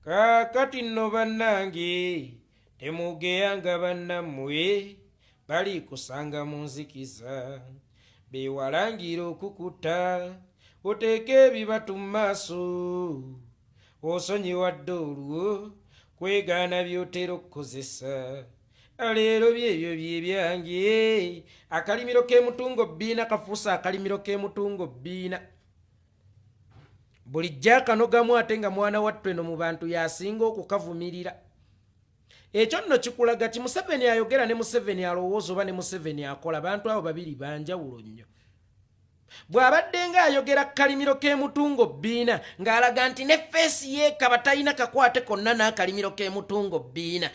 kaakati nno bannange temugeya nga bannammwe bali kusanga mu nzikiza bewalangira okukutta oteeka ebibatu mu maaso osonyiwadde olwo kwegaana by'otera okukozesa leero byebyo byebyange akalimiro k'emutungo bbiina kafuusa akalimiro k'emutungo bbiina bulijjo akanogamu ate nga mwana wattu eno mu bantu yasinga okukavumirira ekyo nno kikulaga ti museveni ayogera ne museveni alowooza oba ne museveni akola bantu abo babiri banjawulo nnyo bw'abadde ng'ayogera ku kalimiro k'emutungo bbiina ng'alaga nti ne feesi yeekaba talina kakwate konna n'akalimiro k'emutungo bbiina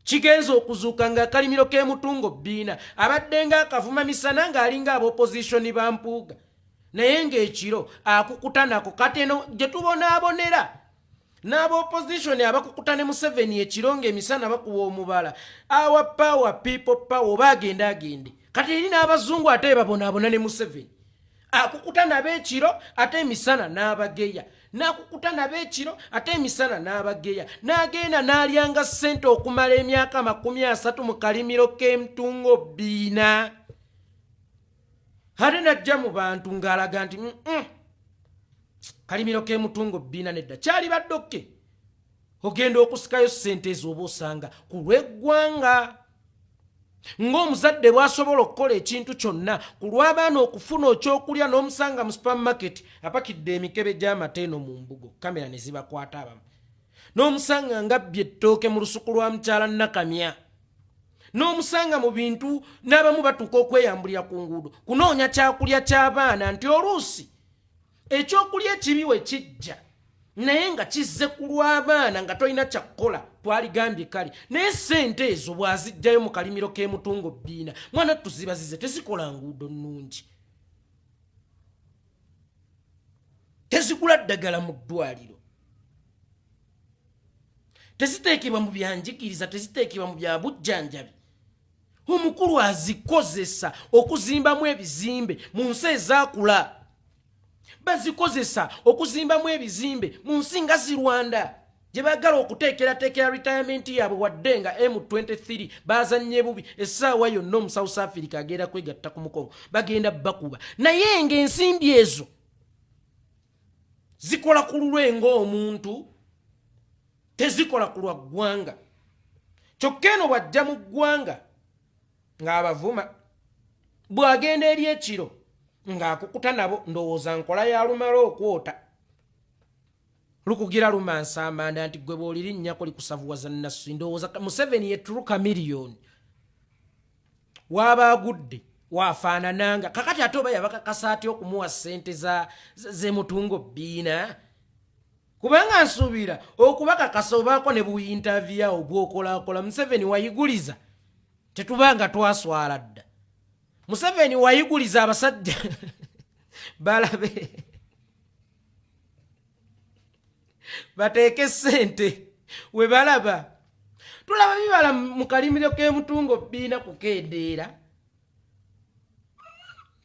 Kigenze okuzuuka ng'akalimiro k'e Mutungo Bbiina abaddenga akavuma misana ng'alinga abopozisoni ba Mpuuga naye ng'ekiro akukuta nako kati eno gye tubonaabonera n'abopozisoni abakukuta ne Museveni ekiro ng'emisana bakuwa omubala awa paawa piipo paawa oba agende agende kati eri n'abazungu ate babonaabona ne Museveni. akukuta nabo ekiro ate emisana n'abageya n'akukuta nabo ekiro ate emisana n'abageya n'agenda n'alyanga ssente okumala emyaka amakumi asatu mu kalimiro k'emtungo biina ate najja mu bantu ng'alaga nti mm -mm. kalimiro k'emutungo biina nedda kyali baddokke ogenda okusikayo ssente ezooba osanga ku lw'eggwanga ng'omuzadde bw'asobola okukola ekintu kyonna ku lw'abaana okufuna okyokulya n'omusanga mu supermarket apakidde emikebe gy'amata eno mu mbugo kamera ne zibakwata abamu n'omusanga ngabbye ettooke mu lusuku lwa mukyala nakamya n'omusanga mu bintu n'abamu batuuka okweyambulira ku nguudo kunoonya kyakulya ky'abaana nti oluusi ekyokulya ekibi we kijja naye nga kizze ku lw'abaana nga tolina kyakukola twaligambye kale naye sente ezo bw'azijjayo mu kalimiro k'emutungo bbiina mwana tuzibazize tezikola nguudo nnungi tezigula ddagala mu ddwaliro teziteekebwa mu byanjigiriza teziteekebwa mu bya bujjanjabi omukulu azikozesa okuzimbamu ebizimbe mu nsi ezakula bazikozesa okuzimbamu ebizimbe mu nsi nga zi rwanda gye baagala okuteekerateekera retirement yaabwe wadde nga m23 baazannye bubi essaawa yonna omu south africa agenda kwegatta ku mukolo bagenda bakuba naye ng'ensimbi ezo zikola ku lulwe ng'omuntu tezikola ku lwa ggwanga kyokka eno bw'ajja mu ggwanga ng'abavuma bw'agenda eri ekiro ng'akukuta nabo ndowooza nkola ya lumala okwota lukugira lumansa amanda nti gwe bwoliri nnyako likusavuwaza nassi ndowooza museveni yeturuka miliyoni waaba agudde wafaanananga kakati ate oba yabakakasa atya okumuwa ssente zemutungo bbiina kubanga nsuubira okubakakasa obaako ne buyintavyawo gwokolakola museveni wayiguliza tetubanga twaswala dda museveni wayiguliza abasajja balabe bateeke sente webalaba tulaba bibala mu kalimiro k'emutungo bbiina kukendeera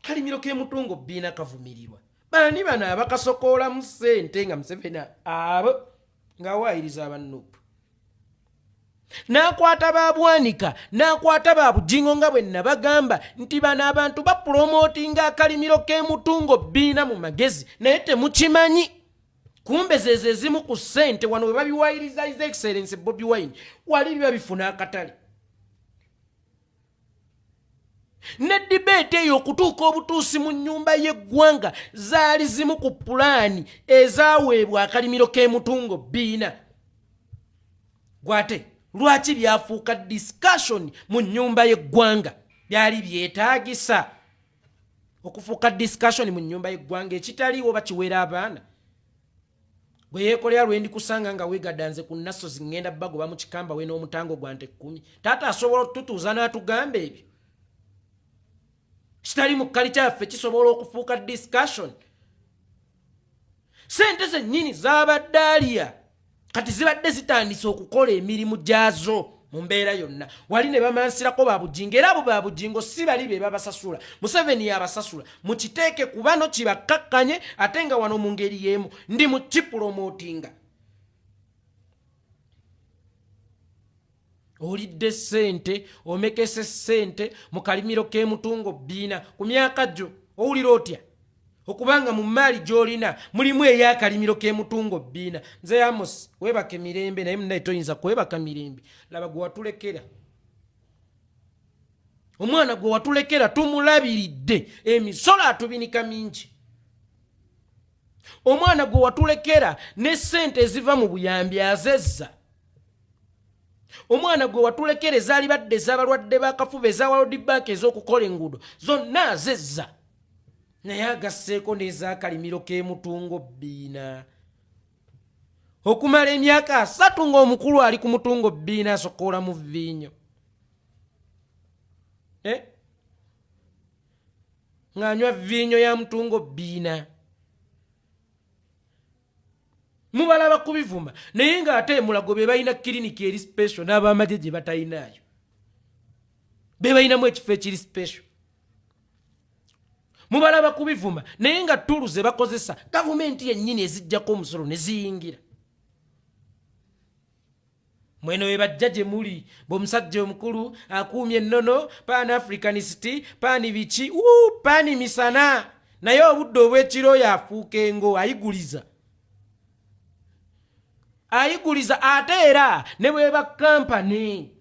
kalimiro k'emutungo bbiina kavumirirwa bani bano abakasokoolamu sente nga museveni abo ng'awaayiriza abanupu n'akwata ba bwanika n'akwata ba bujingo nga bwe nabagamba nti bano abantu bapulomootinga akalimiro k'emutungo bbiina mu magezi naye temukimanyi kumbe zezo ezimu ku ssente wano webabiwayiriza is excellence bobi wine wali biba bifuna akatale ne dibeeti eyo okutuuka obutuusi mu nnyumba y'eggwanga zaali zimu ku pulaani ezaweebwa akalimiro k'emutungo biina gwate lwaki byafuuka discussion mu nnyumba y'eggwanga byali byetaagisa okufuuka discussion mu nnyumba y'eggwanga ekitaliiwo bakiweera abaana gwe yekolera lwendi kusanga nga wegadanze ku nasozi ngenda bagoba mu kikamba we n'omutango gwa nte kkumi taata asobola okututuuza n'atugamba ebyo kitali mu kkali kyaffe kisobola okufuuka discussion sente zennyini zabadde aliya kati zibadde zitandise okukola emirimu gyazo mu mbeera yonna wali ne bamansirako ba bujingo era abo ba bujingo si bali be babasasula museveni yabasasula mukiteeke kubano kibakkakkanye ate nga wano mu ngeri y'emu ndi mu kipulomootinga olidde ssente omekese ssente mu kalimiro k'emutungo bbiina ku myaka gyo owulira otya okubanga mu mmaali gy'olina mulimu ey'akalimiro k'emutungo bbiina nze yamos weebaka emirembe naye munaye toyinza kwebaka mirembe laba gwe watulekera omwana gwe watulekera tumulabiridde emisolo atubinika mingi omwana gwe watulekera ne ssente eziva mu buyambi azezza omwana gwe watulekera ezaalibadde ez'abalwadde b'akafuba eza walodi banka ez'okukola enguudo zonna azezza naye agasseeko n'ezakalimiro k'emutungo bbiina okumala emyaka asatu ng'omukulu ali ku mutungo bbiina asokoola mu viinyo eh? ng'anywa viinyo ya mutungo bbiina mubalaba kubivuma naye nga ate mulago bebalina kiriniki eri special n'abamaje gye batalinaayo bebalinamu ekifo ekiri special mubalaba kubivuma naye nga tuulu ze bakozesa gavumenti yennyini ezijjako omusolo ne ziyingira mweno webajja gye muli bwomusajja omukulu akuumye ennono pan africanist pani biki u pani misana naye obudde obwekiro oyo afuuka engo ayiguliza ayiguliza ate era ne bweba kampani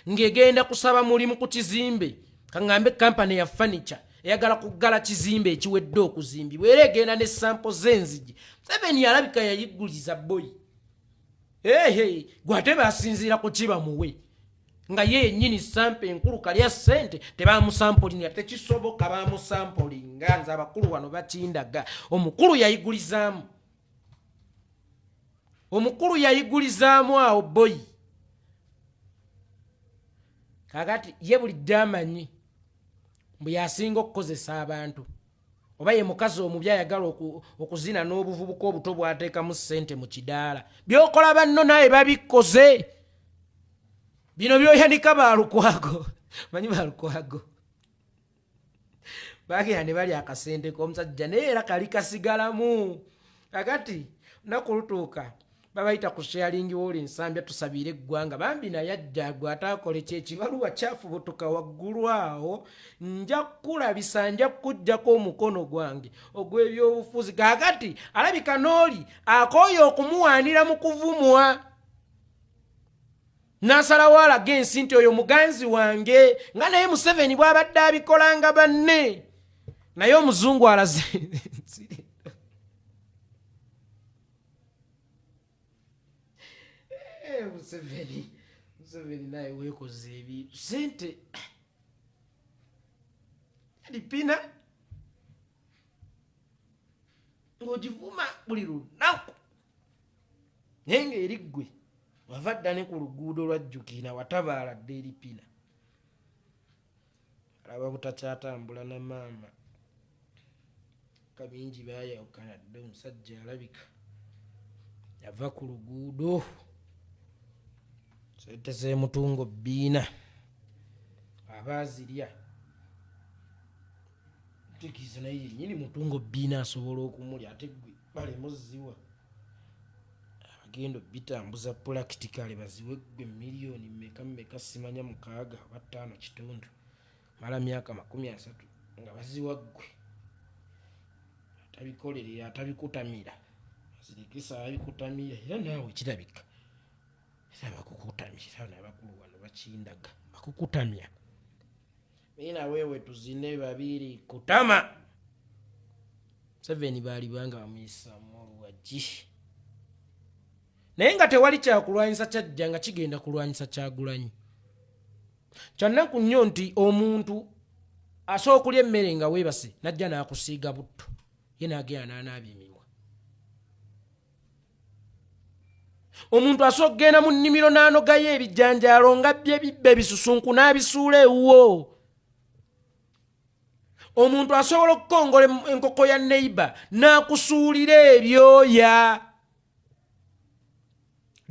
ng'egenda kusaba mulimu ku kizimbe kaŋŋambe kampani ya fanica eyagala kuggala kizimbe ekiwedde okuzimbibwa era egenda ne sampo z'enzigi museveni yalabika yayiguliza boyi ehe gwe ate basinziira ku kiba muwe nga ye yennyini sampa enkulu kalya ssente tebamusampulinga tekisoboka bamusampulinga nze abakulu wano bakindaga omukulu yayigulizaamu omukulu yayigulizaamu awo boyi kakati ye bulidde amanyi mbu yasinga okukozesa abantu oba ye mukazi omubi ayagala okuzina n'obuvubuka obuto bwateekamu ssente mu kidaala byokola banno naye babikoze bino byoyanika balukwago manyi balukwago bagenda ne bali akasente k'omusajja naye era kali kasigalamu kakati naku lutuuka babayita ku sharing wall ensambya tusabiire eggwanga bambi naye ajjagwe ataakola ekyekibaluwa kyafubutuka waggulu awo nja kukulabisa nja kukuggyako omukono gwange ogw'ebyobufuzi kakati alabika n'oli akooye okumuwaanira mu kuvumwa n'asalawo alaga ensi nti oyo muganzi wange nga naye museveni bw'abadde abikolanga banne naye omuzungu alaze eh, museveni museveni naye wekoze ebintu sente alipina ng'ogivuma buli lunaku naye ng'eri ggwe wava dda ne ku luguudo lwajjukiina watabaala dda eripina alaba butakyatambula na maama kabingi bayawukana dde omusajja alabika yava ku luguudo sente zemutungo bbiina aba azirya tekiiza naye yenyini mutungo bbiina asobola okumulya ate gwe balemu ziwa abagenda obitambuza pulakitikaale baziwe gwe miliyoni meka meka simanya mukaaga oba ttaano kitundu mala myaka makumi asatu nga baziwa ggwe atabikolerera atabikutamira azirikisa abikutamira era naawe kirabika era bakukutamira nabakulu wano bakindaga bakukutamya Mimi na wewe tuzine babiri kutama. Seven bali banga bamuyisa mulu wa jishi. Naye nga tewali kyakulwanyisa kyajja nga kigenda kulwanyisa kyagulanyi. Kyannaku nnyo nti omuntu asobola okulya emmere nga weebase n'ajja n'akusiiga butto ye n'agenda n'anaabya emimwa. omuntu asobola okugenda mu nnimiro n'anogayo ebijanjaalo nga bye bibba ebisusunku n'abisuula ewuwo omuntu asobola okukongola enkoko ya neiba n'akusuulira ebyoya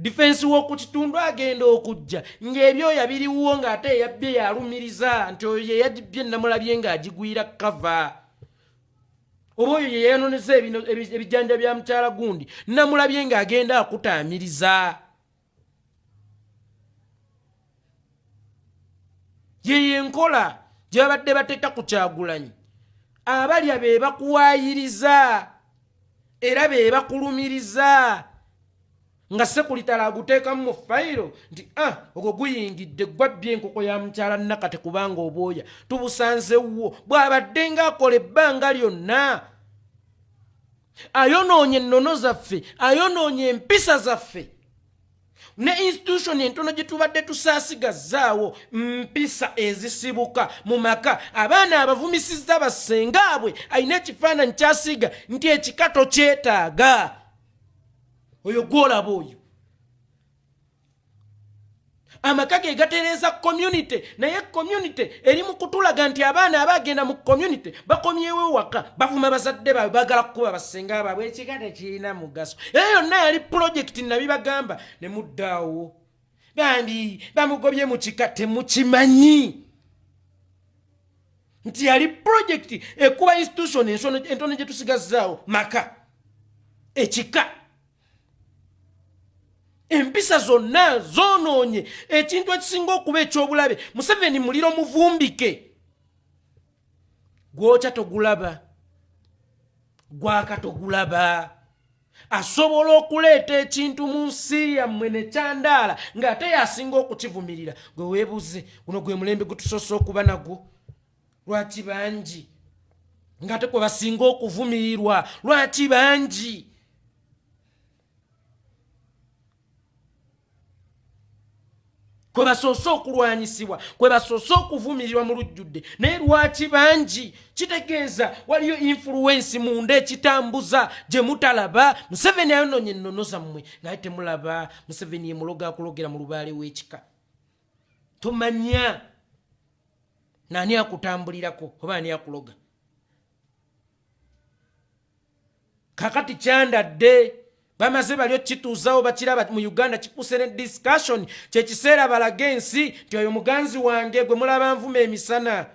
difensi w'oku kitundu agenda okujja ng'ebyoya biriwuwo ng'ate eyabbye yalumiriza nti oyo yeyagibbye namulabye ng'agigwira kava oba oyo yeyayononeza ebijanja bya mukyala gundi namulabye nga agenda akutaamiriza yeyo enkola gyebabadde bateeka ku kyagulanyi abalya be bakuwayiriza era be bakulumiriza nga sekulitala aguteekamu mu fayiro nti a ah, ogwo guyingidde gwabbye enkoko ya mukyala nakate kubanga obwoya tubusanzewwo bw'abadde ng'akola ebbanga lyonna ayonoonye ennono zaffe ayonoonye empisa zaffe ne institution entono gye tubadde tusaasigazzaawo mpisa ezisibuka mu maka abaana abavumisizza bassengaabwe alina ekifaananyi kyasiiga nti ekikato kyetaaga oyo gwolaba oyo amaka ge gatereeza community naye community eri mu kutulaga nti abaana abagenda mu community bakomyewo ewaka bavuma bazadde baabwe bagala kukuba basenga baabwe ekika tekirina mugaso era yonna yali pulojekiti nabibagamba ne muddaawo bambi bamugobye mu kika temukimanyi nti yali pulojekiti ekuba institution entono gye tusigazzaawo maka ekika empisa zonna zoonoonye ekintu ekisinga okuba eky'obulabe museveni muliro muvumbike gwokya togulaba gwaka togulaba asobola okuleeta ekintu mu nsi yammwe nekyandaala ng'ate yasinga okukivumirira gwe weebuuze guno gwe mulembe gutusoose okuba nagwo lwaki bangi ng'ate kwe basinga okuvumirirwa lwaki bangi kwe basoose okulwanyisibwa kwe basoose okuvumirirwa mu lujjudde naye lwaki bangi kitegeeza waliyo infuluwensi munda ekitambuza gye mutalaba museveni ayononya ennono zammwe naye temulaba museveni ye mulogo akulogera mu lubaale w'ekika tomanya naani akutambulirako oba ani akuloga kakati kyandadde bamaze bali okukituuzawo bakiraba mu uganda kikuuse ne discussion kyekiseera balaga ensi nti oyo muganzi wange gwe mulaba nvuma emisana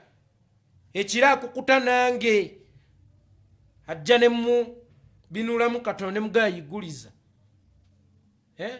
ekira akukuta nange ajja ne mu binulamu katonda ne mugayiguliza eh?